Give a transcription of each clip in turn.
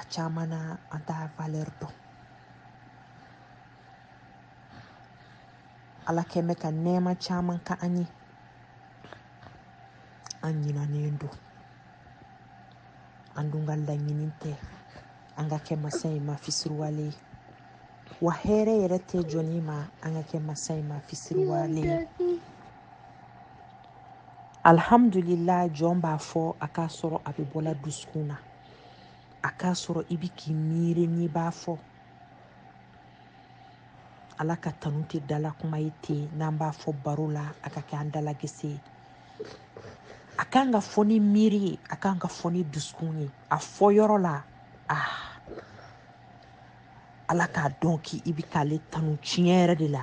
a caman na an t'a valɛri dɔn ala kɛlen bɛ ka nɛɛma caman k'an ye an ɲinanen don an dun ka laɲini tɛ an ka kɛ masa in ma fisiriwale ye wa hɛrɛ yɛrɛ tɛ jɔni ma an ka kɛ masa in ma fisiriwale ye alihamudulila jɔn b'a fɔ a k'a sɔrɔ a bɛ bɔla dusukun na a k'a sɔrɔ i bɛ k'i miiri n'i b'a fɔ ala ka tanu tɛ dala kuma ye ten n'an b'a fɔ baro la a ka kɛ an dalagɛsɛ ye a kan ka fɔ ni miiri ye a kan ka fɔ ni dusukun ye a fɔ yɔrɔ la ah ala k'a dɔn k'i i bɛ k'ale tanu tiɲɛ yɛrɛ de la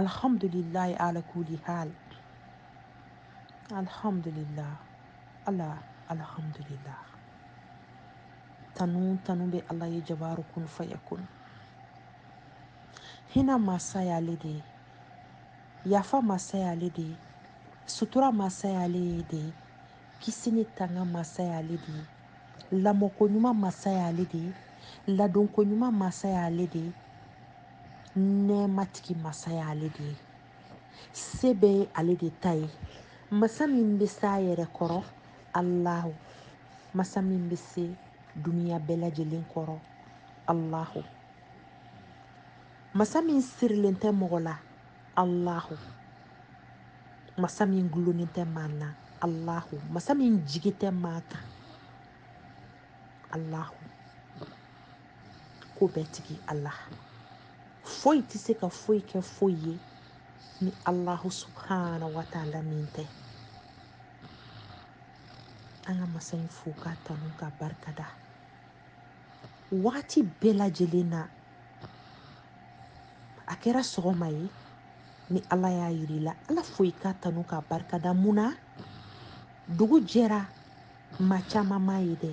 alhamdulillahi ala kulli hal alhamdulillah ala alhamdulillah tanu bɛ ala ye jabaru kun fayakun hinɛ masa y'ale de ye yafa masa y'ale de ye sutura masa y'ale de ye kisi ni tanga masa y'ale de ye lamɔko ɲuman masa y'ale de ye ladonko ɲuman masa y'ale de ye nɛɛmatigi masa ye ale de ye se bɛɛ ye ale de ta ye masa min bɛ se a yɛrɛ kɔrɔ alahu masa min bɛ se duniya bɛɛ lajɛlen kɔrɔ alahu masa min sirilen tɛ mɔgɔ la alahu masa min gulonnen tɛ maa na alahu masa min jigi tɛ maa kan alahu ko bɛɛ tigi ala foyi tɛ se ka foyi kɛ foyi ye ni alahu subhana wa taala min tɛ an ka masa in fo k'a tanu k'a barika da wagati bɛɛ lajɛlen na a kɛra sɔgɔma ye ni ala y'a yira i la ala fo i k'a tanu k'a barika da mun na dugu jɛra maa caman m'a ye dɛ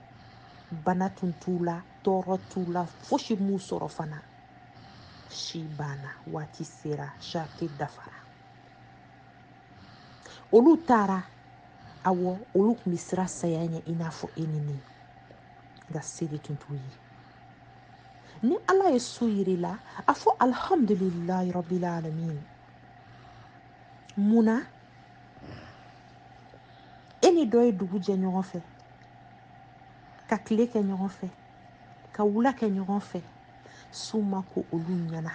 bana tun t'u la tɔɔrɔ t'u la fosi m'u sɔrɔ fana si banna waati sera sarati dafara olu taara awɔ olu tun bɛ siran saya ɲɛ i n'a fɔ e ni ne nka se de tun t'u ye ni ala ye su yir'i la a fɔ alihamudulilayi rabili alamin mun na e ni dɔ ye dugu jɛ ɲɔgɔn fɛ ka tile kɛ ɲɔgɔn fɛ ka wula kɛ ɲɔgɔn fɛ su ma ko olu ɲɛna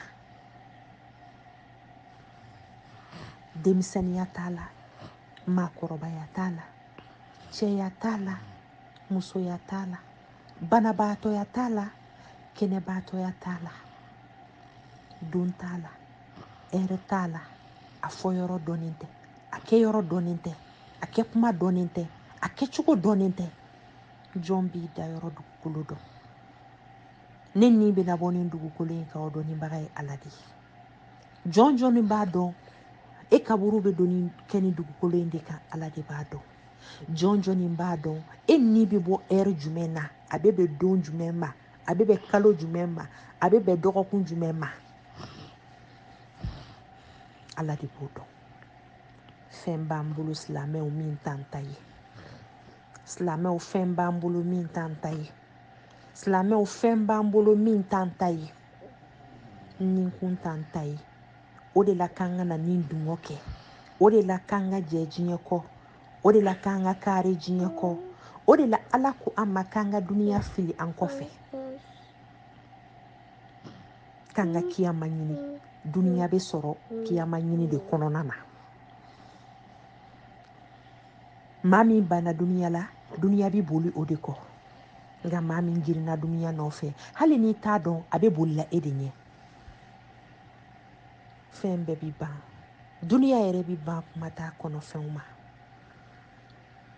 denmisɛnninya t'a la maakɔrɔbaya t'a la cɛya t'a la musoya t'a la banabaatɔya t'a la kɛnɛbaatɔya t'a la don t'a la ɛrɛ t'a la a fɔ yɔrɔ dɔnnen tɛ a kɛ yɔrɔ dɔnnen tɛ a kɛ kuma dɔnnen tɛ a kɛcogo dɔnnen tɛ jɔn b'i da yɔrɔ dugukolo dɔn ne ni bɛna bɔ nin dugukolo in kan o dɔnnibaga ye ala de ye jɔn jɔnni b'a dɔn e kaburu bɛ don ni kɛ nin dugukolo in de kan ala de b'a dɔn jɔn jɔnni b'a dɔn e ni bɛ bɔ ɛri jumɛn na a bɛ bɛn don jumɛn ma a bɛ bɛn kalo jumɛn ma a bɛ bɛn dɔgɔkun jumɛn ma ala de b'o dɔn fɛn b'an bolo silamɛw min t'an ta ye silamɛw fɛn b'an bolo min t'an ta ye silamɛw fɛn b'an bolo min t'an ta ye ni kun t'an ta ye o de la k'an kana ni dungɔ kɛ o de la k'an ka jɛ diɲɛ kɔ o de la k'an ka kari diɲɛ kɔ o de la ala ko an ma k'an ka duniya fili an kɔfɛ k'an ka kiyama ɲini duniya bɛ sɔrɔ kiyama ɲini de kɔnɔna na maa min banna duniya la duniya bɛ boli o de kɔ nka maa min girinna duniya nɔfɛ hali n'i t'a dɔn a bɛ bolila e de ɲɛ fɛn bɛɛ bɛ ban duniya yɛrɛ bɛ ban kuma t'a kɔnɔfɛnw ma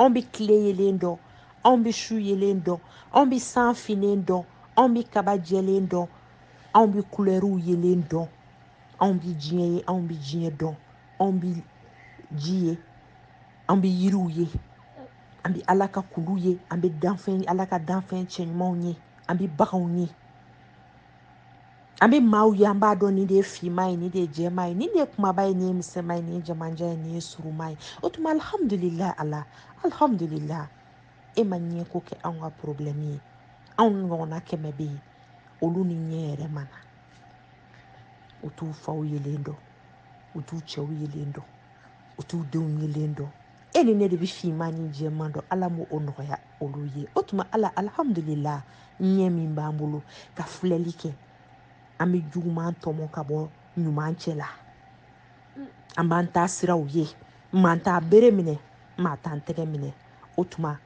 anw bɛ tile yelen dɔn anw bɛ su yelen dɔn anw bɛ san finnen dɔn anw bɛ kaba jɛlen dɔn anw bɛ kulɛriw yelen dɔn anw bɛ diɲɛ ye anw bɛ diɲɛ dɔn anw bɛ ji ye an bɛ yiriw ye an bɛ ala ka kulu ye an bɛ danfɛn ala ka danfɛn cɛɲumanw ye an bɛ baganw ye an bɛ maaw ye an b'a dɔn nin de ye finma ye nin de ye jɛma ye nin de ye kumaba ye nin ye misɛnma ye nin ye jamanjan ye nin ye suruma ye o tuma alihamudulila ala alihamudulila e ma ɲɛ ko kɛ anw ka porobilɛmu ye anw ɲɔgɔnna kɛmɛ bɛ yen olu ni ɲɛ yɛrɛ ma na u t'u faw yelen dɔn u t'u cɛw yelen dɔn u t'u denw yelen dɔn e ni ne de bɛ finma ni jɛman dɔn ala m'o nɔgɔya olu ye o tuma ala alhamdulila ɲɛ min b'an bolo ka filɛli kɛ an bɛ juguman tɔmɔ ka bɔ ɲuman cɛ la an b'an taasiraw ye maa t'a bere minɛ maa t'an tɛgɛ minɛ o tuma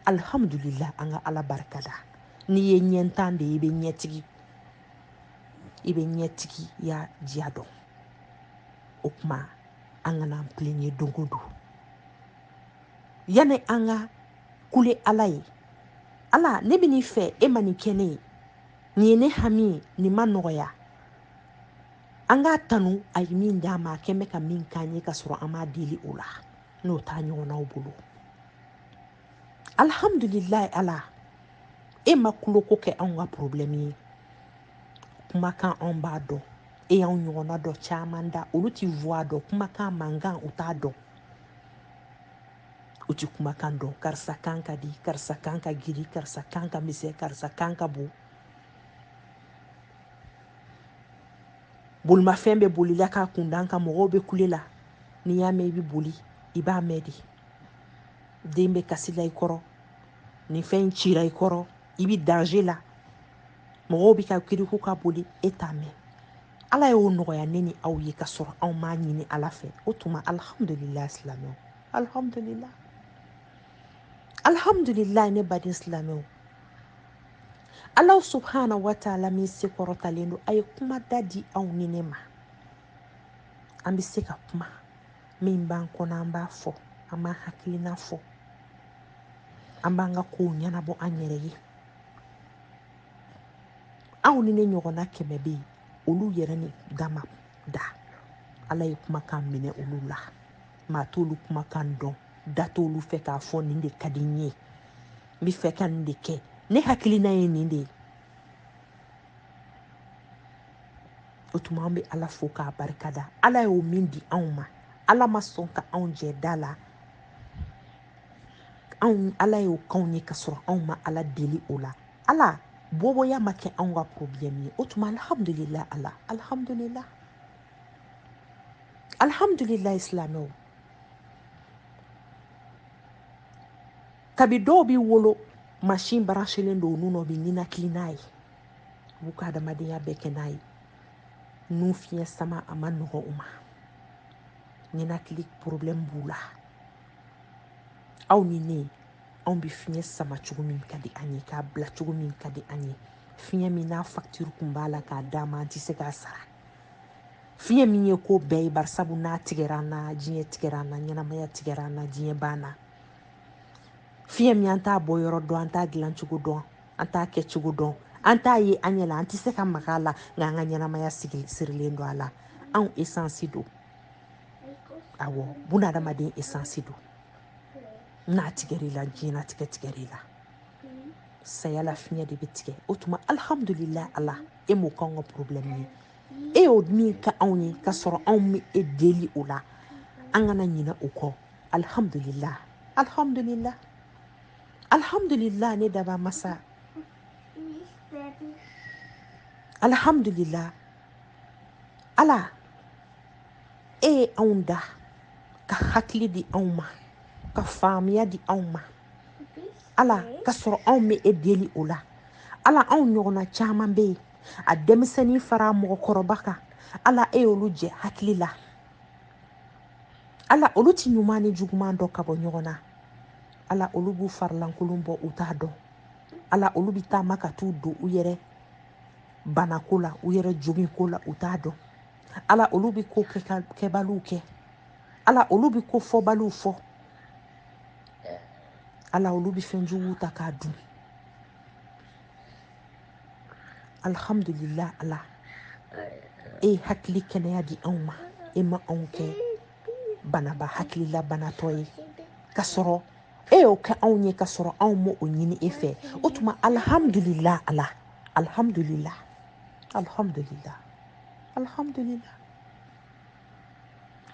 alhamdulila an ka ala barika da n'i ye ɲɛntan de ye i bɛ ɲɛtigi i bɛ ɲɛtigiya diya dɔn o tuma an kana an pilɛɲe don o don yanni an ka kule ala ye ala ne bɛ nin fɛ e ma nin kɛ ne ye nin ye ne hami ye nin ma nɔgɔya an k'a tanu a ye min d'an ma a kɛn bɛ ka min k'an ye ka sɔrɔ an m'a deli o la n'o t'an ɲɔgɔnnaw bolo alihamudulilayi ala e ma kuloko kɛ anw ka problème ye kumakan anw b'a dɔn e y'anw ɲɔgɔnna dɔ caman da olu ti voix dɔn kumakan mankan u t'a dɔn u ti kumakan dɔn karisa kan ka di karisa kan ka giri karisa kan ka misɛn karisa kan ka bon bolimafɛn bɛ boli la k'a kun d'an kan mɔgɔw bɛ kule la n'i y'a mɛn i bɛ boli i b'a mɛn de den bɛ kasi la i kɔrɔ ni fɛn in cira i kɔrɔ i bɛ danger la mɔgɔw bɛ ka kiriku ka boli e t'a mɛn ala y'o nɔgɔya ne ni aw ye ka sɔrɔ anw m'a ɲini ala fɛ o tuma alhamdulila silamɛw alhamdulila alhamdulila ne baden silamɛw ala subhana wa taala min se kɔrɔtalen don a ye kuma da di aw ni ne ma an bɛ se ka kuma min b'an kɔnɔ an b'a fɔ an b'an hakilina fɔ an b'an ka kow ɲɛnabɔ an yɛrɛ ye aw ni ne ɲɔgɔnna kɛmɛ bɛ yen olu yɛrɛ ni dama da ala ye kumakan minɛ olu la maa t'olu kumakan dɔn da t'olu fɛ k'a fɔ nin de ka di n ye n bɛ fɛ ka nin de kɛ ne hakilina ye nin de ye o tuma an bɛ ala fo k'a barikada ala y'o min di anw ma ala ma sɔn ka anw jɛ da la ala y'o k'anw ye ka sɔrɔ anw ma ala deli o la ala boboya ma kɛ anw ka problème ye o tuma alhamdulila ala alhamdulila alhamdulila silamɛw kabi dɔw bi wolo machine branchelen don u nun na u bɛ ninakili n'a ye u b'u ka adamadenya bɛɛ kɛ n'a ye nun fiɲɛ sama a ma nɔgɔ u ma ninakili problème b'u la aw ni ne anw bɛ fiɲɛ sama cogo min ka di an ye k'a bila cogo min ka di an ye fiɲɛ min n'a fakitiri kun b'a la k'a d'an ma an tɛ se k'a sara fiɲɛ min ye ko bɛɛ ye barisabu n'a tigɛra an na diɲɛ tigɛra an na ɲɛnamaya tigɛra an na diɲɛ banna fiɲɛ min an t'a bɔ yɔrɔ dɔn an t'a dilan cogo dɔn an t'a kɛ cogo dɔn an t'a ye an ɲɛ la an tɛ se ka maga a la nka an ka ɲɛnamaya sigi sirilen don a la anw esansi don awɔ bunadamaden esansi don n'a tigɛra i la diɲɛnatigɛ tigɛra i la saya la fiɲɛ de bɛ tigɛ o tuma alihamudulilayi ala e m'o k'anw ka porobilɛmu ye e y'o min k'anw ye k'a sɔrɔ anw ma e deli o la an kana ɲinɛ o kɔ alihamudulilayi alihamudulilayi alihamudulilayi ne daba masa alihamudulilayi ala e ye anw da ka hakili di anw ma ka faamuya di anw ma ala ka sɔrɔ anw ma e deli o la ala anw ɲɔgɔnna caman bɛ yen a denmisɛnnin fara mɔgɔkɔrɔba kan ala e y'olu jɛ hakili la ala olu ti ɲuman ni juguman dɔn ka bɔ ɲɔgɔn na ala olu b'u farilankolon bɔ u t'a dɔn ala olu bɛ taama ka t'u don u yɛrɛ bana ko la u yɛrɛ jogi ko la u t'a dɔn ala olu bɛ ko kɛbaliw kɛ ala olu bɛ ko fɔbaliw fɔ ala olu bɛ fɛn juguw ta k'a dun alihamudulila ala e ye hakili kɛnɛya di anw ma e ma anw kɛ banaba hakilila banatɔ ye ka sɔrɔ e y'o kɛ anw ye ka sɔrɔ anw m'o ɲini e fɛ o tuma alihamudulila ala alihamudulila alihamudulila alihamudulila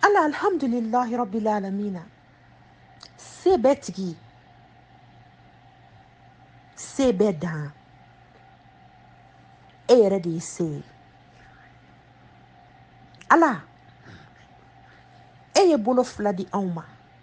ala alihamudulilahi rabbil alamina se bɛɛ tigi se bɛɛ dan e yɛrɛ de ye se ye ala e ye bolo fila di anw ma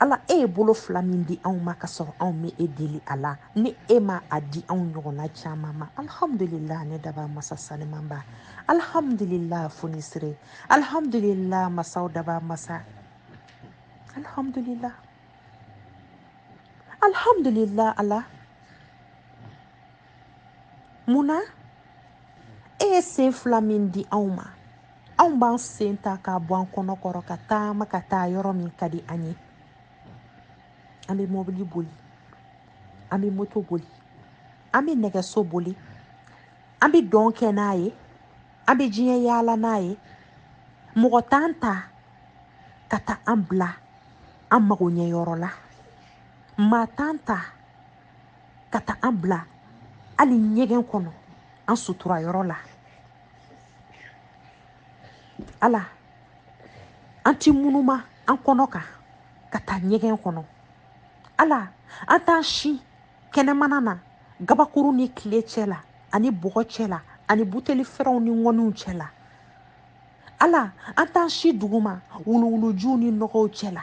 ala e ye bolo fila min di anw ma ka sɔrɔ anw ma e deli a la ni e ma a di anw ɲɔgɔnna caman ma alhamdulila ne daba masa sanimanba alhamdulila fonisire alhamdulila masaw daba masa alhamdulila alhamdulila ala mun na e ye sen fila min di anw ma anw b'an sen ta k'a bɔ an kɔnɔ kɔrɔ ka taama ka taa yɔrɔ min ka di an ye an bɛ mɔbili boli an bɛ moto boli an bɛ nɛgɛso boli an bɛ dɔn kɛ n'a ye an bɛ diɲɛ yaala n'a ye mɔgɔ t'an ta ka taa an bila an mago ɲɛ yɔrɔ la maa t'an ta ka taa an bila hali ɲɛgɛn kɔnɔ an sutura yɔrɔ la ala an ti munuma an kɔnɔ kan ka taa ɲɛgɛn kɔnɔ ala an t'an si kɛnɛmana na gabakuru ni tile cɛ la ani bɔgɔ cɛ la ani buteli fɛrɛnw ni ŋɔniw cɛ la ala an t'an si duguma wuluwulujuw ni nɔgɔw cɛ la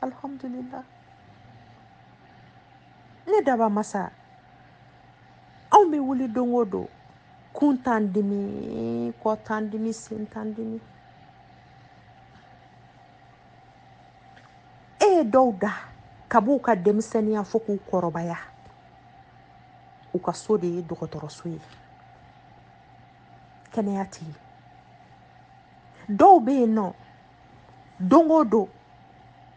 alihamudulila ne dabaa masa anw bɛ wuli don o don kun t'an dimi kɔ t'an dimi sen t'an dimi e ye dɔw da kab'u ka denmisɛnninya fo k'u kɔrɔbaya u ka so de ye dɔgɔtɔrɔso ye kɛnɛya tɛ yen dɔw bɛ yen nɔ don o don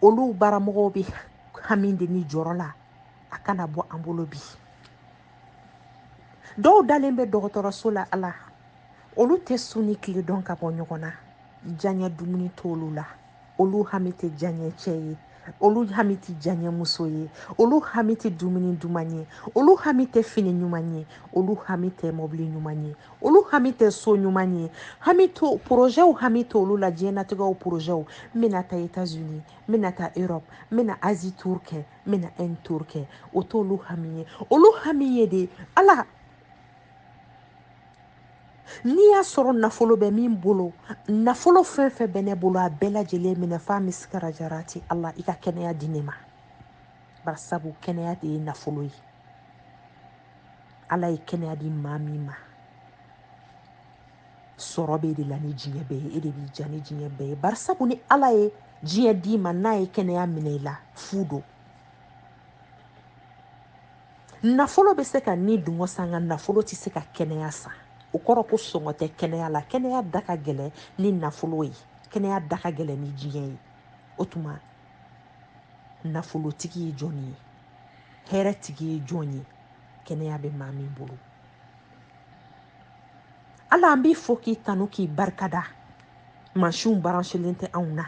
olu baramɔgɔw bɛ hami de ni jɔrɔ la a kana bɔ an bolo bi dɔw dalen bɛ dɔgɔtɔrɔso la ala olu tɛ su ni tile dɔn ka bɔ ɲɔgɔn na diyaɲɛ dumuni t'olu la olu hami tɛ diyaɲɛ cɛ ye olu hami tɛ diyaɲɛmuso ye olu hami tɛ dumuni duman ye olu hami tɛ fini ɲuman ye olu hami tɛ mɔbili ɲuman ye olu hami tɛ so ɲuman ye hami tɛ porozɛw hami t'olu la diɲɛnatigɛw porozɛw n bɛna taa etats unis n bɛna taa europe n bɛna asie tour kɛ n bɛna inde tour kɛ o t'olu hami ye olu hami ye de ala n'i y'a sɔrɔ nafolo bɛ min bolo nafolo fɛn fɛn bɛ ne bolo a bɛɛ lajɛlen minɛ f'a misikara jarati ala i ka kɛnɛya di ne ma bari sabu kɛnɛya de ye nafolo ye ala ye kɛnɛya di maa min ma sɔrɔ b'e de la ni diɲɛ bɛɛ ye e de b'i diya ni diɲɛ bɛɛ ye bari sabu ni ala ye diɲɛ d'i ma n'a ye kɛnɛya minɛ i la fu don nafolo bɛ se ka ni dungɔ san nka nafolo tɛ se ka kɛnɛya san o kɔrɔ ko sɔngɔ tɛ kɛnɛya la kɛnɛya da ka gɛlɛn ni nafolo ye kɛnɛya da ka gɛlɛn ni diɲɛ ye o tuma nafolotigi ye jɔn ye hɛrɛtigi ye jɔn ye kɛnɛya bɛ maa min bolo ala an b'i fo k'i tanu k'i barikada mansinw baransilen tɛ anw na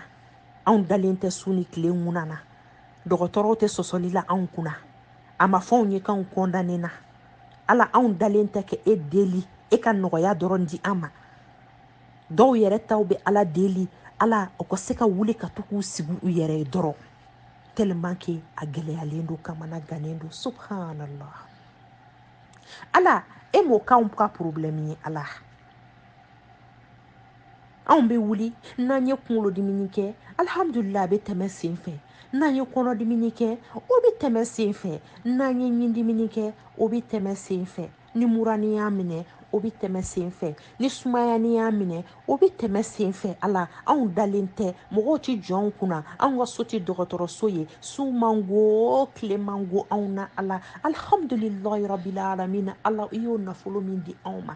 anw dalen tɛ su ni tile ŋunan na dɔgɔtɔrɔw tɛ sɔsɔli la anw kunna a ma fɔ anw ye k'anw kɔndanena ala anw dalen tɛ ka e deli e ka nɔgɔya dɔrɔn di an ma dɔw yɛrɛ ta u bɛ ala deli ala u ka se ka wuli ka to k'u sigi u yɛrɛ ye dɔrɔn tellement que a gɛlɛyalen don kamanagannen don subhanallah ala e m'o k'anw ka problème ye ala anw bɛ wuli n'an ye kunkolodimini kɛ alihamudulila a bɛ tɛmɛ sen fɛ n'an ye kɔnɔdimini kɛ o bɛ tɛmɛ sen fɛ n'an ye ɲindimini kɛ o bɛ tɛmɛ sen fɛ ni murani y'a minɛ o bɛ tɛmɛ sen fɛ ni sumayani y'a minɛ o bɛ tɛmɛ sen fɛ ala anw dalen tɛ mɔgɔw tɛ jɔ anw kunna anw ka so tɛ dɔgɔtɔrɔso ye su man go tile man go anw na ala alihamudulilahi rabili alamina ala i y'o nafolo min di anw ma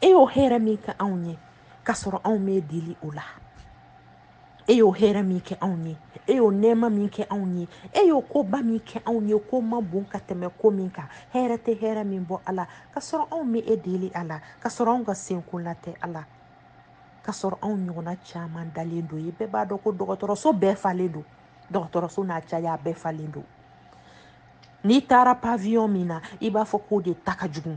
e y'o hɛrɛ min kɛ anw ye k'a sɔrɔ anw m'e deli o la e y'o hɛrɛ min kɛ anw ye e y'o nɛɛma min kɛ anw ye e y'o koba min kɛ anw ye ko man bon ka tɛmɛ ko min kan hɛrɛ tɛ hɛrɛ min bɔ ala k'a sɔrɔ anw m'e deli a la k'a sɔrɔ anw ka senko la tɛ ala k'a sɔrɔ anw ɲɔgɔnna caman dalen don ye bɛɛ b'a dɔn ko dɔgɔtɔrɔso bɛɛ falen don dɔgɔtɔrɔso n'a caya bɛɛ falen don n'i taara paviyɔn min na i b'a fɔ k'o de ta ka jugu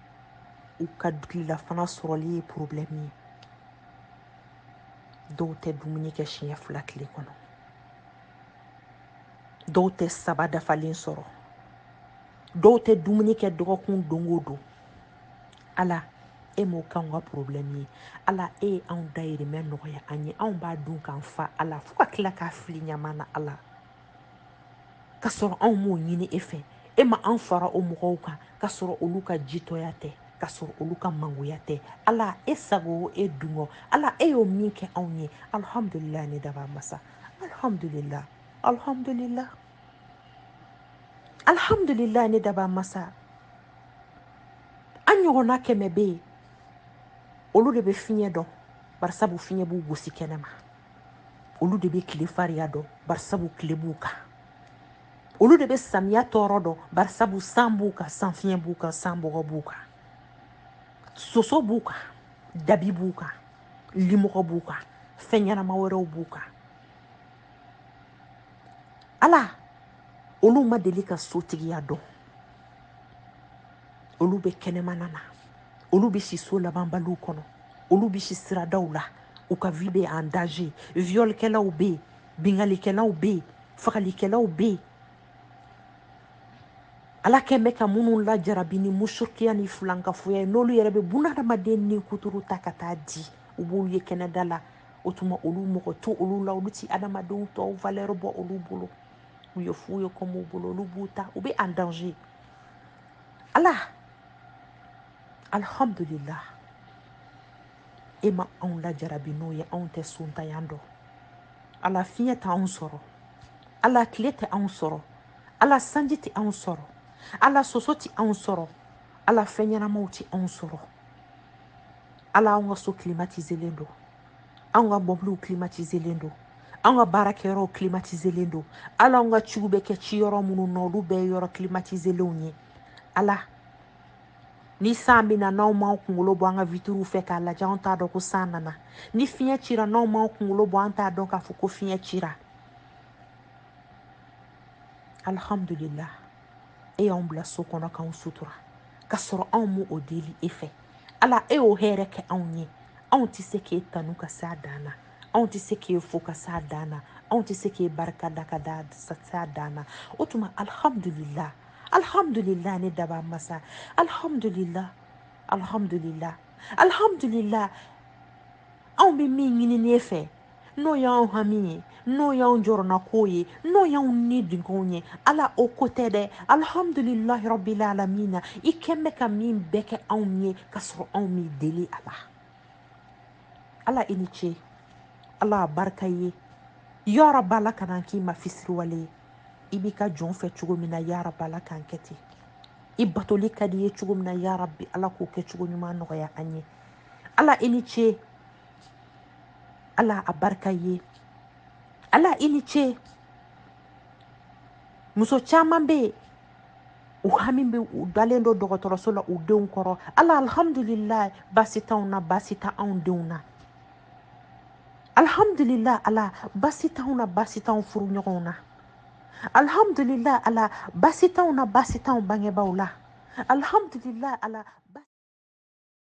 u ka tilelafana sɔrɔli ye porobilɛmu ye dɔw tɛ dumuni kɛ siɲɛ fila tile kɔnɔ dɔw tɛ saba dafalen sɔrɔ dɔw tɛ dumuni kɛ dɔgɔkun don o don ala e m'o k'anw ka porobilɛmu ye ala e ye anw dayirimɛ nɔgɔya an ye anw b'a dun k'an fa ala fo ka tila k'a fili ɲaman na ala ka sɔrɔ anw m'o ɲini e fɛ e ma an fara o mɔgɔw kan ka sɔrɔ olu ka jitɔya tɛ ka sɔrɔ olu ka mangoya tɛ ala e sago o e dungɔ ala e y'o min kɛ anw ye alihamudulila ne dabaa masa alihamudulila alihamudulila alihamudulila ne dabaa masa an ɲɔgɔnna kɛmɛ bɛ yen olu de bɛ fiɲɛ dɔn barisabu fiɲɛ b'u gosi kɛnɛma olu de bɛ tile fariya dɔn barisabu tile b'u kan olu de bɛ samiya tɔɔrɔ dɔn barisabu san b'u kan san fiɲɛ b'u kan san bɔgɔ b'u kan soso b'u kan dabi b'u kan limɔgɔ b'u kan fɛn ɲɛnama wɛrɛw b'u kan ala olu ma deli ka sotigiya dɔn olu bɛ kɛnɛmana na olu bɛ si so labanbaliw kɔnɔ olu bɛ si siradaw la u ka vie bɛ en danger violkɛlaw bɛ yen binkannikɛlaw bɛ yen fagalikɛlaw bɛ yen ala kɛn bɛ ka minnu lajarabi ni mushirikiya ni filankafoya ye n'olu yɛrɛ bɛ bunadamaden ni kuturu ta ka taa di u b'olu ye kɛnɛda la o tuma olu mɔgɔ to olu la olu ti adamadenw tɔw valeur bɔ olu bolo u ye fu ye kɔm'u bolo olu b'u ta u bɛ en danger ala alhamdulillah e ma anw lajarabi n'o ye anw tɛ sontanya dɔn ala fiɲɛ tɛ anw sɔrɔ ala tile tɛ anw sɔrɔ ala sanji tɛ anw sɔrɔ ala soso tɛ anw sɔrɔ ala fɛnɲɛnamaw tɛ anw sɔrɔ ala anw ka so kilimatizelen don anw ka mɔbiliw klimatizelen don anw ka baarakɛyɔrɔw klimatizelen don ala anw ka ciw bɛ kɛ ci yɔrɔ minnu na olu bɛɛ ye yɔrɔ klimatizelenw ye ala ni san bɛ na n'anw m'an kunkolo bɔ an ka witiriw fɛ k'a lajɛ anw t'a dɔn ko san nana ni fiɲɛ cira n'anw m'an kunkolo bɔ an t'a dɔn k'a fɔ ko fiɲɛ cira alihamudulila e y'anw bila so kɔnɔ k'anw sutura ka sɔrɔ anw m'o o deli e fɛ ala e y'o hɛrɛ kɛ anw ye anw tɛ se k'e tanu ka se a dan na anw tɛ se k'e fo ka se a dan na anw tɛ se k'e barika da ka se a dan na o tuma alihamudulila alihamudulila ne dabaa masa alihamudulila alihamudulila alihamudulila anw bɛ min ɲini e fɛ n'o y'anw hami ye n'o y'anw jɔrɔnakow ye n'o y'anw nidungow ye ala o ko tɛ dɛ alihamudulilahi rabbil alamina i kɛn bɛ ka min bɛɛ kɛ anw ye ka sɔrɔ anw m'i deli a la ala i ni ce ala a barika i ye yarabi ala kan'an k'i ma fisiriwale ye i b'i ka jɔn fɛ cogo min na yarabi ala k'an kɛ ten i batoli ka di i ye cogo min na yarabi ala k'o kɛ cogo ɲuman nɔgɔya an ye ala i ni ce ala a barika i ye ala i ni ce muso caman bɛ yen u hami bɛ u dalen don dɔgɔtɔrɔso la u denw kɔrɔ ala alhamdulilayi baasi t'anw na baasi tɛ anw denw na alhamdulilayi ala baasi t'anw na baasi t'anw furuɲɔgɔnw na alhamdulilayi ala baasi t'anw na baasi t'anw bangebaaw la alhamdulilayi ala